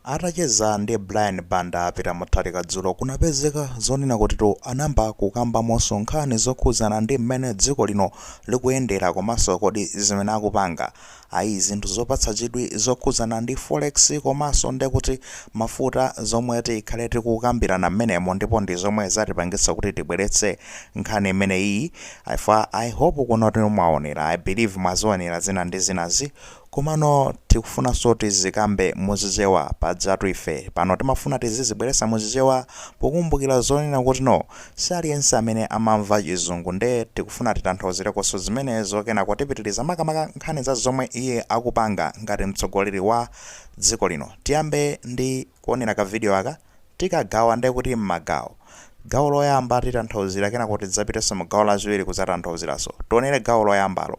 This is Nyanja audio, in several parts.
Atacheza ndi Brian Banda Peter Mutharika dzulo kunapezeka zonena kutitu anayamba kukambamonso nkhani zokhudzana ndi mmene dziko lino likuyendera komanso kodi zimene akupanga ayi zinthu zopatsa chidwi zokhudzana ndi forex komanso ndekuti mafuta zomwe tikhale tikukambirana mmenemo ndipo ndi zomwe zatipangitsa kuti tibweretse nkhani imeneyiyi chifukwa I hope kuno mwaonera I believe mwazionera zina ndi zinazi Komano tikufunanso tizikambe mu chichewa pajatu ife pano timafuna tizizibweresa mu chichewa pokumbukila zonena kuti no si aliyense amene amamva chizungu nde tikufuna titanthauzilekoso zimenezo kenako tipitiliza makamaka nkhani za zomwe iye akupanga ngati mtsogoleli wa dziko lino tiyambe ndi kuonela ka video aka tikagawa nde kuti mmagawo gawo loyamba titanthauzila kenako tidzapiteso mu gawo lachiwili kudzatantauzilaso tionele gawo loyambalo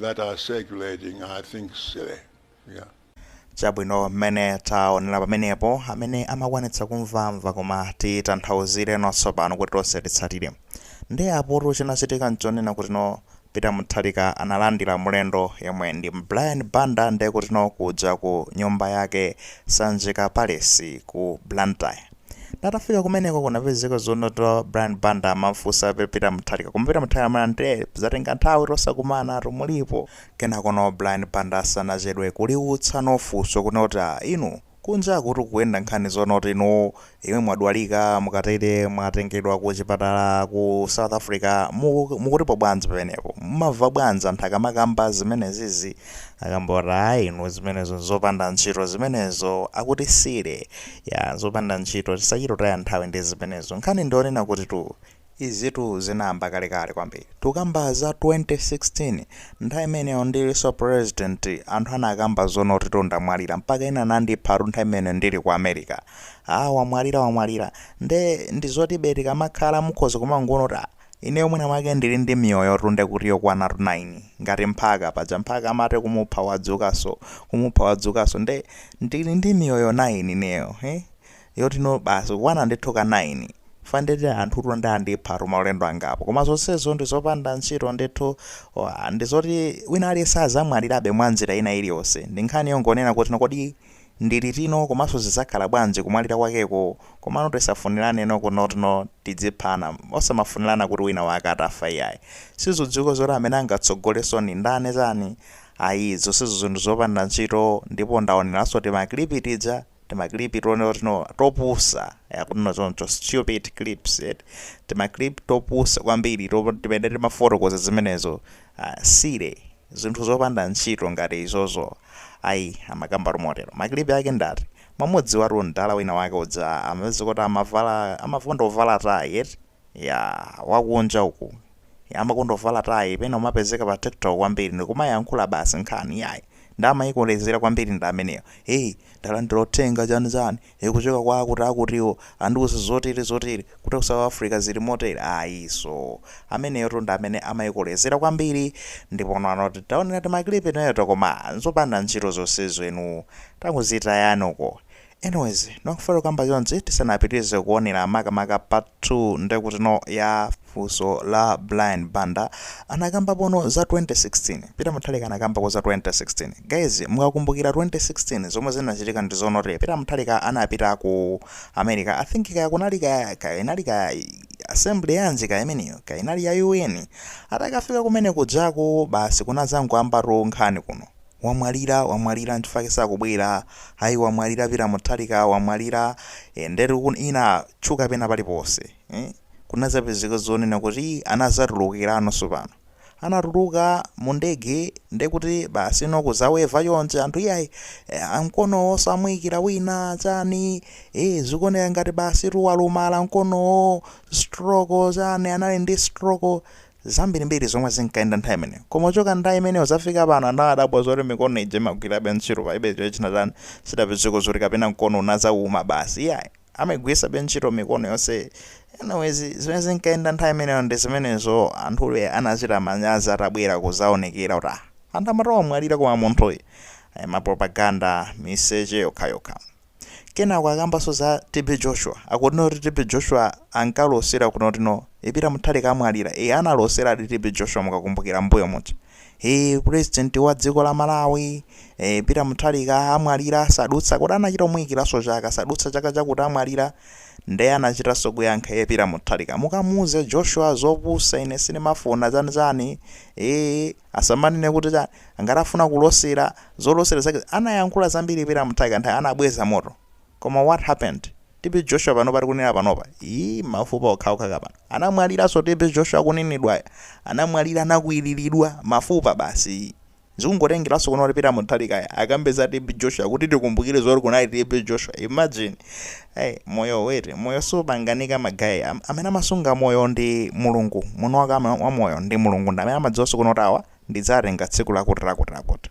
that are circulating are, I think, silly. Yeah. chabwino mmene taonera pamenepo amene amakwanitsa kumva amva koma titanthauzireno tsopano kuti tonse titsatire ndi apotu chinachitika nchonena kuti no peter mutharika analandira mlendo yemwe ndi brian banda ndiye kuti no kuja ku nyumba ya ku sanjika palace ku blantyre Tatafika kumeneko kunapezeka zonoti Brian Banda amafunsa a Peter Mutharika koma Peter Mutharika amati nde zatenga nthawi tisakumanatu mulipo kenako no Brian Banda sanachedwe kuliutsa no funso kunena kuti ah inu kunja kukuyenda nkhani zonoti inuyo mwe mwadwalika mukatele mwatengedwa ku chipatala ku South Africa mu- mukutipo bwanji penepo mumava bwanji anthu akamakamba zimenezizi akamba a ayi inu zimenezo nzopanda ntchito zimenezo akuti silly ya zopanda ntchito tisachite kutaya nthawi ndi zimenezo nkhani ndi yonena kuti tu izitu zinayamba kalekale kwambiri tukamba za 2016 nthawi imeneyo ndiliso president anthu anakamba zonotitu ndamwalira mpaka ena anandipha tu nthawi imeneyo ndili ku america ah wamwalira wamwalira nde ndizotibe tikamakhala mukhoza kumangoona kuti ah Ineyo mwina mwake ndili ndi miyoyotu nde kuti yokwanatu 9 ngati mphaka paja mphaka amati kumupha wadzukanso kumupha wadzukanso nde ndili ndi miyoyo 9 ineyo he yotino basi kukwana ndithu ka 9 chifukwa ndekuti anthutu nde andiphatu maulendo angapo koma zonsezo ndi zopanda ntchito ndithu wa ndi zoti wina aliyense azamwalirabe mwa njira ina iliyonse ndi nkhani yongonena kuti kodi Ndi liti no komanso zizakhala bwanji kumwalira kwakeko komano tisafunilane no kunoti no tidziphana osamafunilana kuti wina wake atafa iyayi sizidziwika zoti amene angatsogoleso nindani chani ayii zonsezo zinthu zopanda ntchito ndipo ndaonelaso tima clip tija tima clip tonoti no topusa yabwno choncho stupid clips eti tima clip topusa kwambiri to timene timafotokoza zimenezo silly zinthu zopanda ntchito ngati izozo ayi amakambatu motero ma clip ake ndi ati, mwamudziwatu mdala wina wake uja amapezeka kuti amavala amakonda kuvala tayi eti yaa wakunja uku amakonda kuvala tayi pena kumapezeka pa tiktok kwambiri ndikumayankhula basi nkhani yayi nde amaikolezera kwambiri ndi ameneyo hei mdala ndilothenga chani chani ikuchoka kwa akuti akutiwo andiuza zotele zotele kuti ku south africa zili motele ayi so ameneyotu ndi amene amaikolezera kwambiri ndipo noti taonera timaclip timeto koma nzopanda ntchito zonsezo inu tangozitayani uko anyways ndimangofuna kukamba chonchi tisanapitilize kuonera makamaka part 2 ndekutino ya funso la Brian Banda anakambapono za 2016 Peter Muthalika anakambako za 2016 guys mukakumbukira 2016 zomwe zinachitika ndizonoti Peter Muthalika anapita ku America I think kaya kunali kaya kaya inali kaya assembly yanji kaya imeneyo kaya inali ya UN atakafika kumene kujaku basi kunazangoyamba tu nkhani kuno wamwalira wamwalira nchifake sakubwera ayi wamwalira Peter Muthalika wamwalira eh, ndetu nkhani inatchuka pena paliponse eh? kunazapezeka zonena kuti anazatulukiranonso pano anatuluka mu ndege ndekuti basi no kuzaweva yonse anthu iyayi eh, mkonowo samuyikira winawo chani eh, zikuoneka ngati basi tu walumala mkonowo stroke chani anali ndi stroke zambirimbiri zomwe zinkayenda nthawi imeneyo koma kuchoka nthawi imeneyo kuzafika pano anthu adabwa zoti mikono ije imagwirabe ntchito palibe chochina chani sidapezeko zoti kapena mkono unazawuma basi iyayi amaigwiritsabe ntchito mikono yonse anyways zimene zinkayenda nthawi imeneyo ndi zimenezo anthu anachita manyazi atabwera kuzaonekera kuti ah anthu amati wamwalira koma munthuyi eh, mapropaganda miseche yokhayokha kenako akambanso za tb joshua akuti noti tb joshua ankalosera kunoti no Peter Muthalika amwalira e analosera adi tb joshua mukakumbukira mbuyo muja Eee president wa dziko la Malawi e, Peter Mutharika amwalira sadutsa kodi anachita kumuyikiraso chaka sadutsa chaka chakuti amwalira nde anachitaso kuyankha ye Peter Mutharika mukamuuze Joshua zopusa ine sindimafuna chani chani ee asamanene kuti chani ngati afuna kulosera zolosera zake anayankhula zambiri Peter Mutharika nthawi anabweza moto Koma what happened? TB Joshua panopa tikunena panopa ii mafupa okhaokha pano anamwaliranso TB Joshua akunenedwayo? Anamwalira anakwiriridwa mafupa basi ii. Zikungotengeranso kuno kuti Peter Mutharikayo akambe za TB Joshua kuti tikumbukire zoti kunali TB Joshua imagine hey, moyo wait moyo supanganika ma guy, amene amasunga moyo ndi Mulungu, mwini wake wa moyo ndi Mulungu ndi amene amadziwanso kuno kuti awa ndidzatenga tsiku lakuti lakuti lakuti.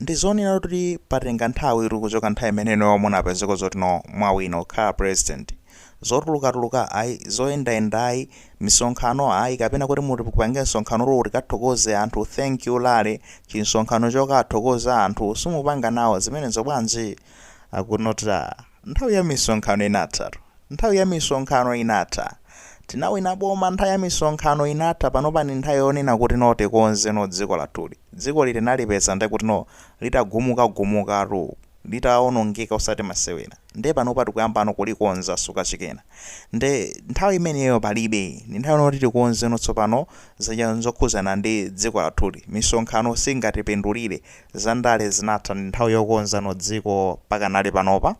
Ndizoona kuti patenga nthawi kuti kuchoka nthawi imene inuyo munapezeka zoti no mwawina kukhala president zotulukatuluka ayi zoyendayenda ayi misonkhano ayi kapena kuti muti mupange msonkhano kuti tikathokoze anthu thank you rally chimsonkhano chokathokoza anthu simupanga nawo zimenezo bwanji akunota nthawi ya misonkhano inathatu nthawi ya misonkhano inatha tinawina boma nthawi ya misonkhano inatha panopa ndi nthawi yonena kuti no tikonze no dziko lathuli Dzikoli tinalipeza nde kuti no litagumuka gumukatu litaonongeka osati masewera nde panopa tikuyamba no kulikonza suka chakena nde nthawi imeneyo palibe ndi nthawi yoti tikonze no tsopano zija zokhuzana ndi dziko lathuli misonkhano singatipindulire za ndale zinatha ndi nthawi yokonza no dziko pakanali panopa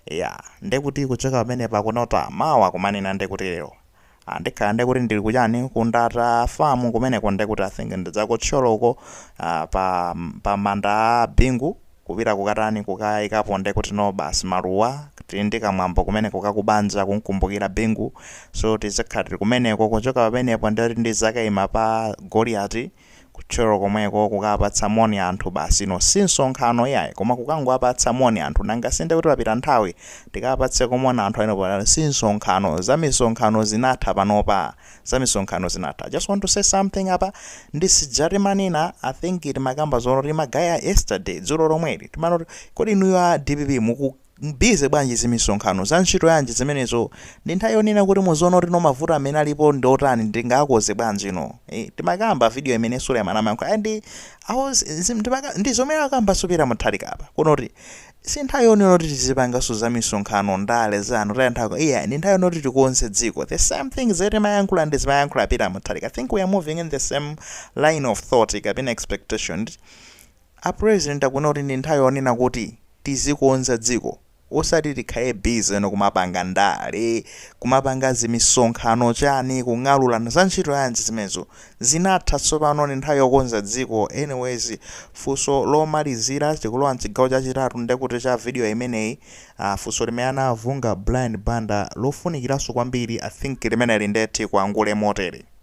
ya nde kuti kuchoka pamenepa akunota mawa kumanena nde kuti lero Ah, ndikhala nde kuti ndili kuchani ku Ndata farm kumeneko nde kuti i think ndi za ku Thyolo uko ah, pa, pa manda a Bingu kupita kukatani kukayikapo nde kuti no basi maluwa tili ndi kamwambo kumeneko kakubanja kumkumbukira Bingu so tizakhala tili kumeneko kuchoka pamenepo nde kuti ndizakayima pa Goliati Ku Thyolo komweko kukawapatsa moni anthu basi no si msonkhano iyayi koma kukangowapatsa moni anthu nanga si ndekuti papita nthawi tikawapatseko moni anthu amenewo pano si msonkhano zamisonkhano zinatha panopa zamisonkhano zinatha I just want to say something apa ndi sija timanena I think timakamba zonoti magaye yesterday dzulo lomweli timanoti kodi inuyo a DPP muku busy bwanji zimisonkhano za ntchito yanji zimenezo ndi nthawi yonena kuti muziona kuti no mavuto amene alipo ndi otani ndingakonze bwanji no eh, timakamba video imene Suleiman amayankhula ndi awo ndi zomwe akambaso Peter Mutharika apa akunoti si nthawi yonena kuti tizipanganso za misonkhano ndale zongotaya nthawi iyayi ndi nthawi yonena kuti tikonze dziko the same thing zimene timayankhula ndi zimayankhula a Peter Mutharika i think we are moving in the same line of thought kapena expectation A president akunena kuti ndi nthawi yonena kuti tizikonza dziko osati tikhale busy nkumapanga ndale, kumapanga zimisonkhano chani kung'alulana za ntchito yanji zimenezo? Zinatha tsopano ndi nthawi yokonza dziko anyways funso lomalizira tikulowa mchigawo chachitatu ndekuti cha video imeneyi aah funso limene anafunsa Brian Banda lofunikiranso kwambiri I think limeneli nde tipangule motere.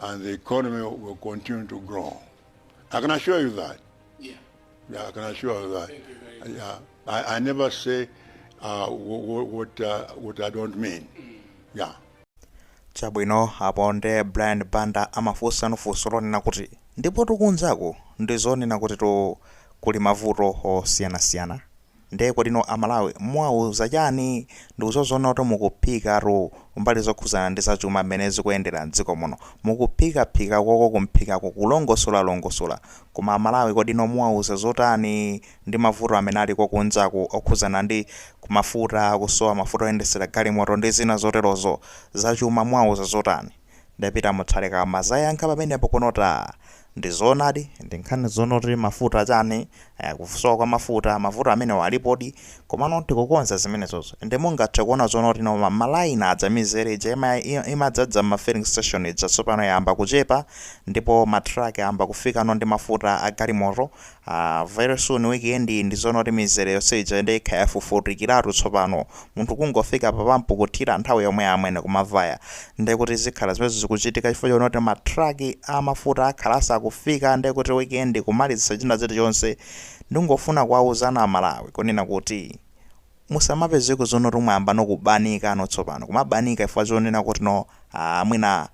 and the economy will continue to grow. I can assure you that. Yeah. Yeah, I can assure you that. You yeah, I, I never say uh, what, what, uh, what I don't mean. Mm. Yeah. chabwino apo nde Brian Banda amafunsa no funso lonena kuti ndipo tikumvako ndi zonena kuti no kuli mavuto osiyanasiyana Nde kodino a Malawi muwauza chani? Ndikuziona kuti mukuphikatu mbali zokhuzana ndi za chuma mmene zikuyendera mdziko muno. Mukuphikaphika koko kuphikako kulongosola longosola. Koma a Malawi kodino muwauza zotani ndi mavuto amene aliko kunjaku okhuzana ndi Ku mafuta, kusowa mafuta oyendesera galimoto ndi zina zoterozo. Za chuma muwauza zotani? Ndapita Mutharika anazayankha pamenepo kunota aa. Ndizoonadi ndi nkhani zonoti mafuta chani aya kusowa kwa mafuta mavuto amenewo alipodi komano tikukonza zimenezozo ende mungathe kuona zonoti no ma line aja mizere ija imadzadza mma filling station ija tsopano yayamba kuchepa ndipo ma truck ayamba kufikano ndi mafuta agalimoto Aaa very soon week end iyi ndi zonena kuti mizere yonse ija nde ikhala yafufutikiratu tsopano. Munthu kungofika pa pampu kuthira nthawi yomweyo amwene kumavaya. Ndekuti zikhala zimenezo zikuchitika chifukwa chonena kuti ma truck a mafuta akhala atafika ndekuti week end kumalizitsa china chilichonse. Ndikungofuna kuwauzano a Malawi kunena kuti musamapezeko zonena kuti mwayambano kubanikano tsopano. Kumabanika chifukwa chonena kutino aah mwina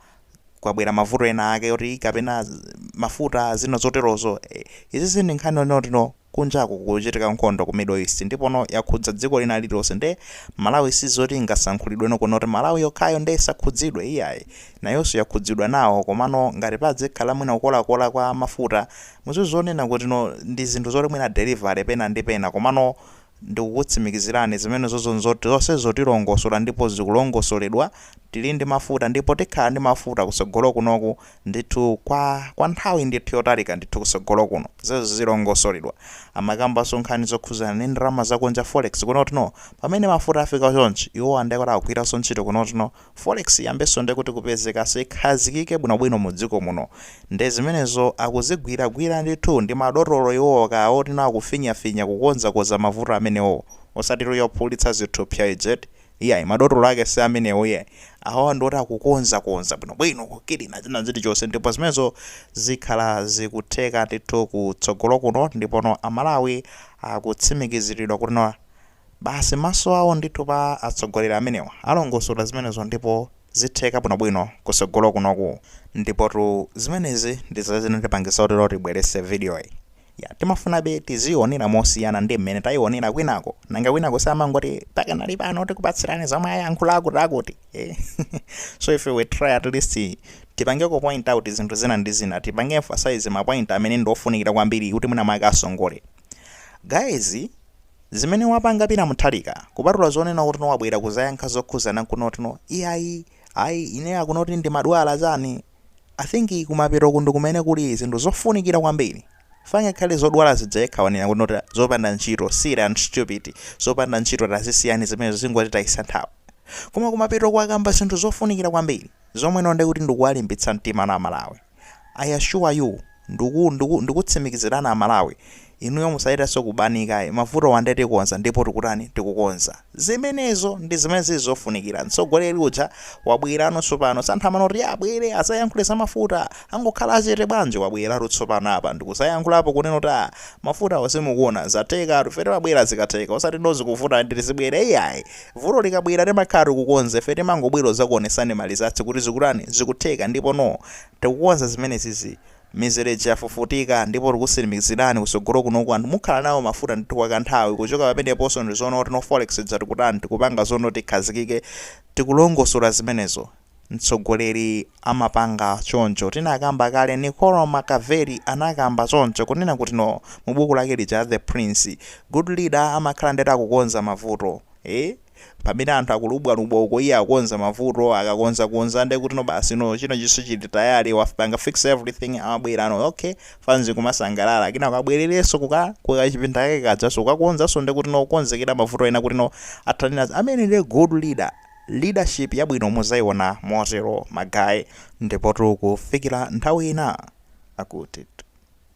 kwabwera mavuto ena ake oti kapena mafuta zina zoterozo eh, izizi ndi nkhani zonoti no kunjaku kuchitika nkhondo ku Middle East ndipo no yakhudza dziko lina lililonse nde Malawi sizoti ingasankhulidwe no kunoti Malawi yokhayo nde isakhudzidwe iyayi nayonso yakhudzidwa nawo komano ngati padzikhala mwina kukolakola kwa mafuta muzizonena kuti no ndi zinthu zoti mwina delivery pena ndi pena komano Ndikukutsimikizirani zimenezozo nzoti zonsezo tilongosola ndipo zikulongosoledwa, tili ndi mafuta ndipo tikhala ndi mafuta kutsogolo kunoku ndithu kwa kwa nthawi ndithu yotalika ndithu kutsogolo kuno. Zonsezo zilongosoledwa. Amakambanso nkhani zokhuzana ndi ndalama zakunja, forex, kunotino. Pamene mafuta afika chonchi, iwowa ndekuti akugwiranso ntchito kunotino. Forex iyambenso nde kuti kupezekaso ikhazikike bwino bwino mu dziko muno nde zimenezo akuzigwira gwira ndithu ndi madotolo iwowo kaya atino akufinya finya kukonza konza mavuto amenewo osatitu ophulitsa zithupsa aja eti iyayi madotolo ake si amenewo iyayi awawa ndi oti akukonza konza bwino bwino kukilina china chili chonse ndipo zimenezo zikhala zikutheka ndithu ku tsogolo kuno ndipono a Malawi akutsimikiziridwa kutino Basi maso awo ndithu pa atsogoleri amenewa. Alongosola zimenezo ndipo zitheka bwinobwino kutsogolo kunoku. Ndipotu zimenezi ndi zimene zinatipangitsa kuti tibweretse vidiyoyi. Ya, timafunabe tiziionera mosiyana ndi mmene tayionera kwinako. Nanga kwinako si amangoti pakanali pano tikupatsirani zomwe ayankhula akutiakuti. Eh? so if we try at least tipangeko point out zinthu zina ndi zina, tipange emphasize mapoint amene ndi ofunikira kwambiri kuti mwina mwake asongole. Guys zimene wapanga Peter Mutharika kupatula zonena kuti wabwera kuzayankha zokhuzana kunena kuti no iyayi ayi ine akunena kuti ndimadwala chani I think kumapeto ku ndi kumene kuli zinthu zofunikira kwambiri ngakhale zodwala zija yekha wanena kunena kuti zopanda ntchito silly and stupid zopanda ntchito tazisiyani zimenezo zingotitayisa nthawi koma kumapeto ko wakamba zinthu zofunikira kwambiri zomwe ndiye kuti ndikuwalimbitsa mtima aMalawi I assure you ndiku ndiku ndikutsimikizirani amalawi inuyo musayetaso kubanika ayi mavutowa ndiye tikonza ndipo tikutani tikukonza zimenezo ndi zimene zili zofunikira mtsogoleri uja wabwerano tsopano samathamanga kuti abwere azayankhule za mafuta angokhala chete bwanji wabweratu tsopano apa ndikuzayankhulapo kunena kuti ah mafutawo simukuona zathekatu ife timabwera zikatheka osati no zikuvuta ndiye tizibwera iyayi Vuto likabwera timakhala tikukonza ife timangobwera kuzakuonesani ma results kuti zikutani zikutheka ndipo no tikukonza zimenezizi mizereji yafufutika ndipo tikusimikizirani kusogolo kunoku anthu mukhala nawo mafuta ndithu kwa kanthawi kuchoka pameneponso ndizoona kuti no forex ija tikutani tikupanga zoti no ikhazikike tikulongosola zimenezo mtsogoleri amapanga choncho tinakamba kale Niccolo Machiavelli anakamba choncho kunena kuti no mu buku lake lija la the prince good leader amakhala ndiye kuti akukonza mavuto ee pamene anthu akulubwalubwa uko iye akukonza mavuto akakonza konza nde kuti no basi no china chiso chili tayale wapanga fix everything amabwera no okay fanzi kumasangalala kenaka abwerereso kuka kuka chipinda kake kajaso kukakonzaso nde kuti no kukonzekera mavuto ena kuti no athane nawo ameneyo nde good leader Leadership yabwino muzaiona motero ma guys. Ndipotu kufikira nthawi ina, akuti.